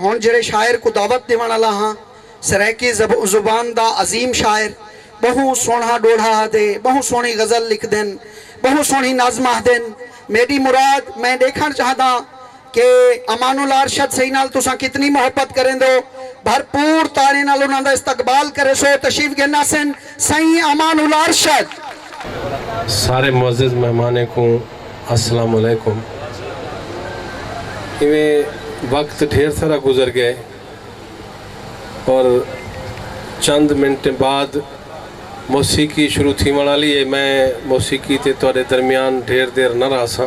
ہݨ جیڑھے شاعر کوں دعوت ݙیوݨ آلا ہاں، سرائیکی زبان دا عظیم شاعر، ٻہوں سوہݨا ݙوہڑا آہدے، ٻہوں سوہݨی غزل لکھدن، ٻہوں سوہݨی نظم آہدن، میݙی مراد میں ݙیکھݨ چاہنداں کہ امان اللہ ارشد سئیں نال تساں کتنی محبت کریندو، بھرپور تاݨے نال انہاں دا استقبال کریسو، تشریف گھن آسن۔ سئیں امان الارشد۔ سارے معزز مہمانیں کوں السلام علیکم۔ ایویں وقت ڈھیر سارا گزر گئے اور چند منٹیں بعد موسیقی شروع تھیوݨ آلی اے میں موسیقی تے تہاڈے درمیان ڈھیر دیر نہ رہساں۔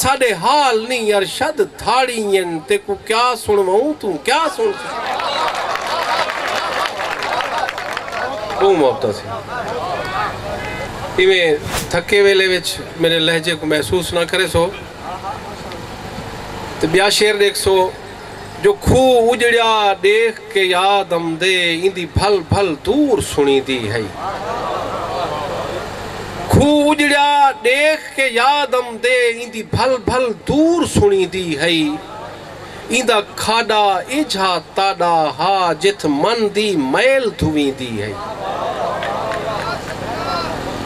ساڈے حال نی ارشد دھاڑی ین تیکوں کیا سنڑووں توں کیا سنڑ سیں۔ بہوں محبتاں سے ایویں تھکے ویلے وچ میرے لہجے کوں محسوس نہ کریسو تے بیا شعر ڈیکھسو۔ جو کھوہ اجڑیا ڈیکھ کے یاد امدے ایندی بھل بھل دور سنیدی ہئی۔ کھوہ اجڑیا ڈیکھ کے یاد امدے ایندی بھل بھل دور سنیدی ہئی۔ ایندا کھاڈا ایجھا تاڈا ہا جتھ من دی میل دھویندی ہئی۔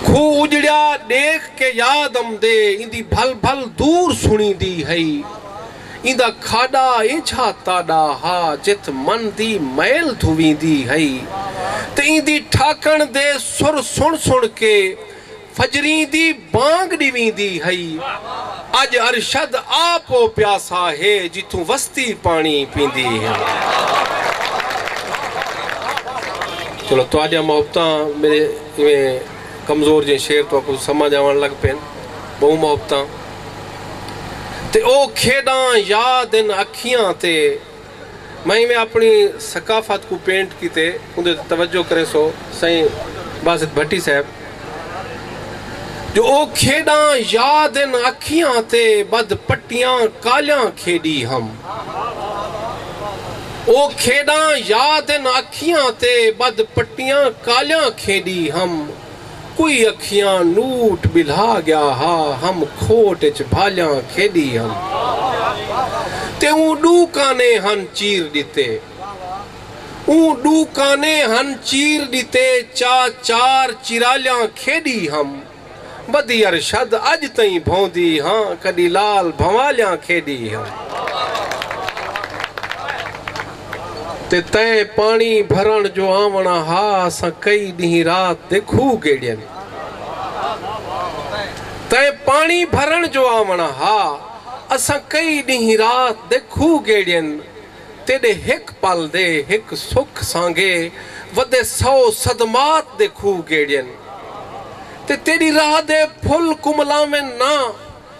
کھوہ اجڑیا ڈیکھ کے یاد امدے ایندی بھل بھل دور سنیدی ہئی۔ ایندا کھاݙا ایجھا تاݙا ہا جت من دی میل دھویندی ہئی تے ایندی ٹھاکݨ دے سر سݨ سݨ کے فجریں دی بانگ ݙیویندی ہئی۔ اڄ ارشد آپ او پیاسا ہے جتھوں وستی پاݨی پیندی ہے۔ چلو تہاݙیاں محبتاں میݙے ایویں کمزور جئیں شعر تہاکوں سمجھ آوݨ لڳ پئن۔ ٻہوں محبتاں۔ تے او کھیڈاں یاد ہن اکھیاں تے میں ایویں اپنی ثقافت کوں پینٹ کیتے اوندے تے توجہ کریسو سائیں باسط بھٹی صاحب جو او کھیڈاں یاد ہن اکھیاں تے بدھ پٹیاں کالیاں کھیڈی ہم او کھیڈاں یاد ہن اکھیاں تے بدھ پٹیاں کالیاں کھیڈی ہم۔ کوئی اکھیاں نوٹ ٻلھا ڳیا ہا ہم کھوٹ اچ بھالیاں کھیݙی ہم تے اوں ݙو کانے ہن چیر ݙتے اوں ݙو کانے ہن چیر ݙتے چا چار چیرالیاں کھیݙی ہم ودی ارشد اڄ تئیں بھوندی ہاں کݙی لال بھنوالیاں کھیݙی ہم۔ تے تئیں پاݨی بھرݨ جو آوݨا ہا اساں کئی ݙینہہ رات دے کھوہ گیڑین تئیں پاݨی بھرݨ جو آوݨا ہا اساں کئی ݙینہہ رات دے کھوہ گیڑین تیݙے ہک پل دے ہک سکھ سانگے ودے سو صدمات دے کھوہ گیڑین تے تیݙی راہ دے پھل کملاوین نہ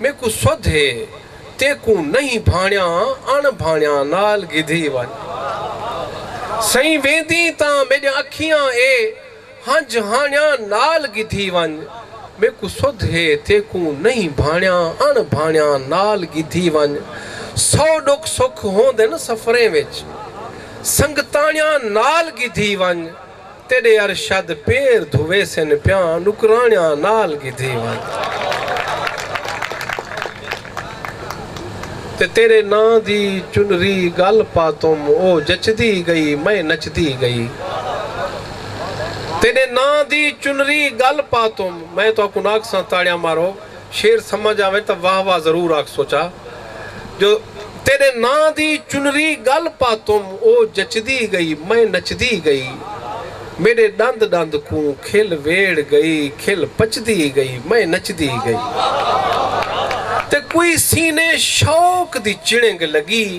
میکوں سدھ ہے تیکوں نئیں بھانڑیاں اݨ بھانڑیاں نال گھدی ونڄ سئیں ویندیں تاں میݙیاں اکھیاں اے ہنج ہانڑیاں نال گھدی ونڄ میکوں سدھ ہے تیکوں نئیں بھانڑیاں اݨ بھانڑیاں نال گھدی ونڄ سو ݙکھ سکھ ہوندن سفریں وچ سنگتاݨیاں نال گھدی ونڄ تیݙے ارشد پیر دھویسن پیاں نکراݨیاں نال گھدی ونڄ تے تیݙے ناں دی چنری ڳل پاتم او جچدی ڳئی میں نچدی ڳئی تیݙے ناں دی چنری ڳل پاتم میں تہاکوں نہ آکھساں تاڑیاں مارو شعر سمجھ آوے تاں واہ واہ ضرور آکھ سوچا جو تیݙے ناں دی چنری ڳل پاتم او جچدی ڳئی میں نچدی ڳئی میݙے ݙند ݙند کوں کھل ویڑھ ڳئی کھل پچدی ڳئی میں نچدی ڳئی تے کوئی سینے شوق دی چڑنگ لڳی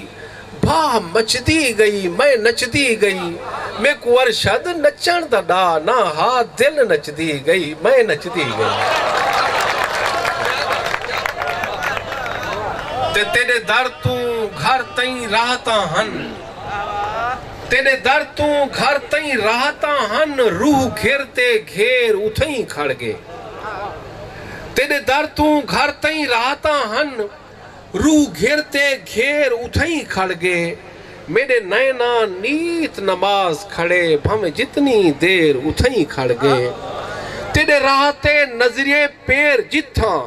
بھاہ مچدی گئی میں نچدی گئی میکوں ارشد نچݨ دا ݙا نہ ہا دل نچدی گئی میں نچدی گئی تے تیݙے در توں گھر تئیں راحتاں ہن تیݙے در توں گھر تئیں راحتاں ہن روح گھر تے گھیر اتھئیں کھڑ ڳے تیݙے در توں گھر تئیں راحتاں ہن روح گھر تے گھیر اتھئیں کھڑ گے میݙے نئیناں نیت نماز کھڑے بھانویں جتنی دیر اتھئیں کھڑ گے تیݙے راہ تے نظریے پیر جتھاں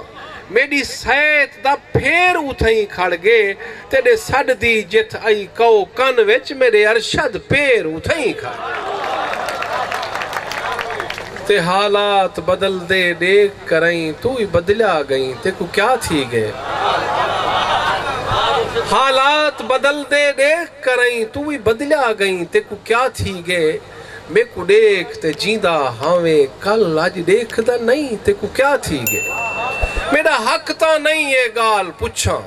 میݙی سیت دا پھیر اتھئیں کھڑ گے تیݙے سݙ دی جتھ ائی کئو کن وچ میݙے ارشد پیر اتھئیں کھڑ گے تے حالات بدلدے ݙیکھ کرئیں توں وی بدلیا گئیں تیکوں کیا تھی گئے حالات بدلدے ڈیکھ کرئیں توں وی بدلیا گئیں تیکوں کیا تھی گئے میکوں ڈیکھ تے جیندا ہاویں کل اج ڈیکھدا نئیں تیکوں کیا تھی گئے میڈا حق تاں نئیں اے گالھ پچھاں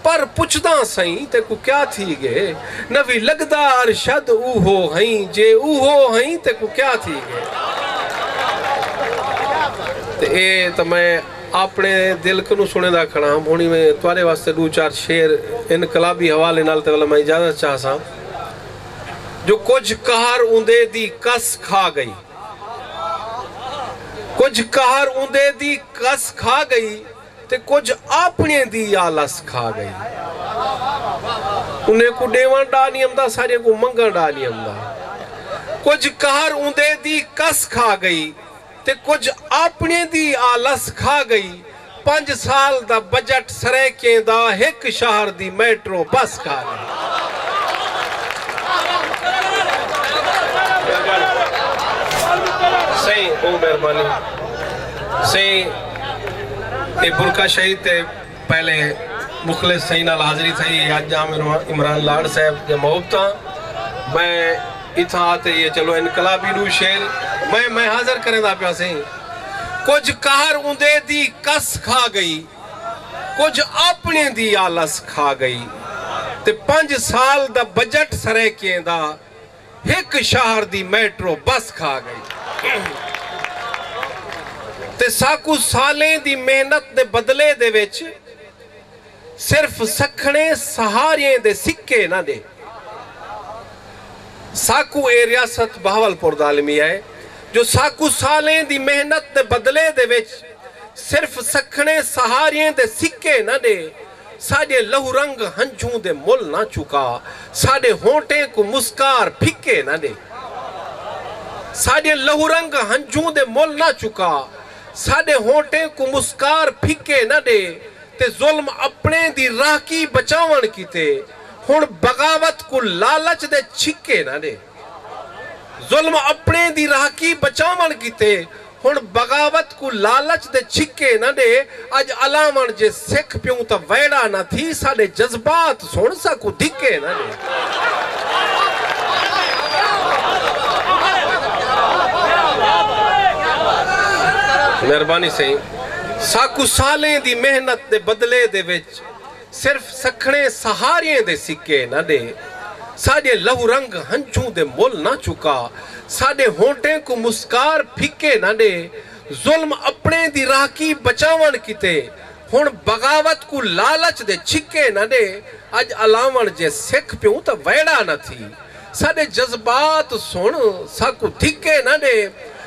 پر پچھداں سئیں تیکوں کیا تھی گے نوی لگدا ارشد اوہو ہئیں جے اوہو ہئیں تیکوں کیا تھی گے تے اے تاں میں آپنے دل کنوں سنڑیندا کھڑاں ہنڑی میں تہاڈے واسطے ڈو چار شعر انقلابی حوالے نال تے ولا میں اجازت چاہساں جو کجھ قہر اوندے دی کس کھا گئی کجھ قہر اوندے دی کس کھا گئی تے کجھ آپنڑیں دی آلس کھا گئی۔ انہیں کوں ڈیونڑ ڈا نی امدا ساڈیں کوں منگنڑ ڈا نی امدا۔ کجھ قہر اوندے دی کس کھا گئی تے کجھ آپنڑیں دی آلس کھا گئی۔ پنج سال دا بجٹ سرائیکیں دا ہک شہر دی میٹرو بس کھا گئی۔ اے برقع شہید تے پہلے مخلص سئیں نال حاضری تھئی اے اج جام عمران لاڑ صاحب دے محبتاں میں اتھاں آتے یہ چلو انقلابی ڈو شیر میں میں حاضر کریں دا پیا سئیں کچھ قہر اوندے دی کس کھا گئی کچھ اپنے دی آلس کھا گئی تے پنج سال دا بجٹ سرے کیں دا ہک شہر دی میٹرو بس کھا گئی تے ساکوں سالیں دی محنت دے بدلے دے وچ صرف سکھڑیں سہاریئیں دے سکے نہ ڈے ساکوں اے ریاست بہاولپور دا المیہ اے جو ساکوں سالیں دی محنت دے بدلے دے وچ صرف سکھڑیں سہاریئیں دے سکے نہ ڈے ساݙے لہو رنگ ہنجھوں دے مل نہ چکا ساݙے ہونٹیں کوں مسکار پھکے نہ ݙے ساݙے لہو رنگ ہنجھوں دے مل نہ چکا ساݙے ہونٹیں کوں مسکار پھکے نہ ݙے تے ظلم اپݨیں دی راہکی بچاوݨ کیتے ہݨ بغاوت کوں لالچ دے چھکے نہ ݙے۔ ظلم اپنڑیں دی رہاکی بچاونڑ کیتے ہنڑ بغاوت کوں لالچ دے چھکے نہ ڈے اج الاونڑ جے سکھ پیوں تاں ویڑا نہ تھی ساڈے جذبات سنڑ ساکوں دھکے نہ ڈے۔ مہربانی سئیں ساکوں سالیں دی محنت دے بدلے دے وچ صرف سکھڑیں سہاریئیں دے سکے نہ ݙے ساݙے لہو رنگ ہنجھوں دے مل نہ چکا ساݙے ہونٹیں کوں مسکار پھکے نہ ݙے ظلم اپݨیں دی راہکی بچاوݨ کیتے ہݨ بغاوت کوں لالچ دے چھکے نہ ݙے اڄ الاوݨ جے سکھ پیوں تاں ویڑھا نہ تھی ساݙے جذبات سݨ ساکوں دھکے نہ ݙے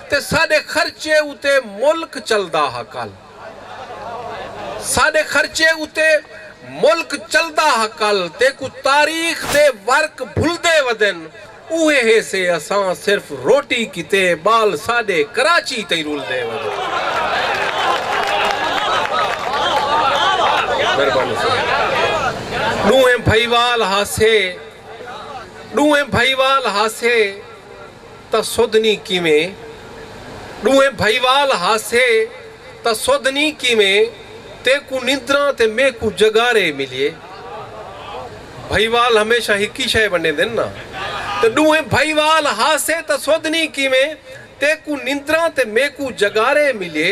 تے ساݙے خرچے اتے ملک چلدا ہا کل ساڈے خرچے اتے ملک چلدا ہا کل تیکو تاریخ دے ورق بھلدے ودن اوہے ہیسے اساں صرف روٹی کیتے بال ساڈے کراچی تئیں رلدے ودن ڈونہیں بھائیوال ہاسے ڈونہیں بھائیوال ہاسے تاں سودھنی کیویں؟ ݙوہیں بھائیوال ہاسے تاں سودھنی کیویں؟ تیکوں نندراں تے میکوں جگارے ملیے۔ بھائیوال ہمیشہ ہکی شئے ونڈیندن نا۔ تے ݙوہیں بھائیوال ہاسے تاں سودھنی کیویں؟ تیکوں نندراں تے میکوں جگارے ملیے۔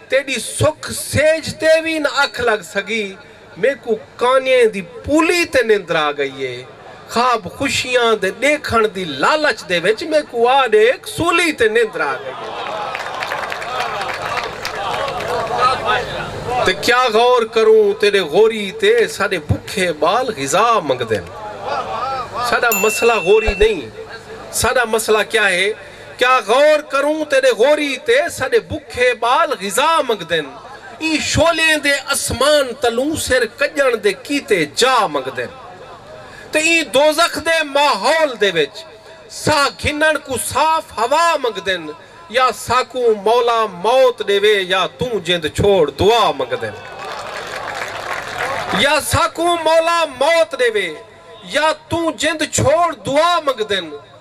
تیݙی سکھ سیج تے وی نہ اکھ لڳ سڳی میکوں کانئیں دی پولی تے نندر آ ڳئی اے خواب خوشیاں دے ݙیکھݨ دی لالچ دے وچ میکوں آ ݙیکھ سولی تے نندر آ ڳئی اے تے کیا غور کروں تیݙے غوری تے ساݙے بکھے ٻال غذا منگدن ساݙا مسئلہ غوری نئیں ساݙا مسئلہ کیا اے کیا غور کروں تیݙے غوری تے ساݙے بکھے ٻال غذا منگدن ایں شعلیں دے اسمان تلوں سر کڄݨ دے کیتے جا منگدن تے ایں دوزخ دے ماحول دے وچ ساہ گھنݨ کوں صاف ہوا منگدن یا ساکوں مولا موت ݙیوے یا توں جند چھوڑ دعا منگدن یا ساکوں مولا موت ݙیوے یا توں جند چھوڑ دعا منگدن۔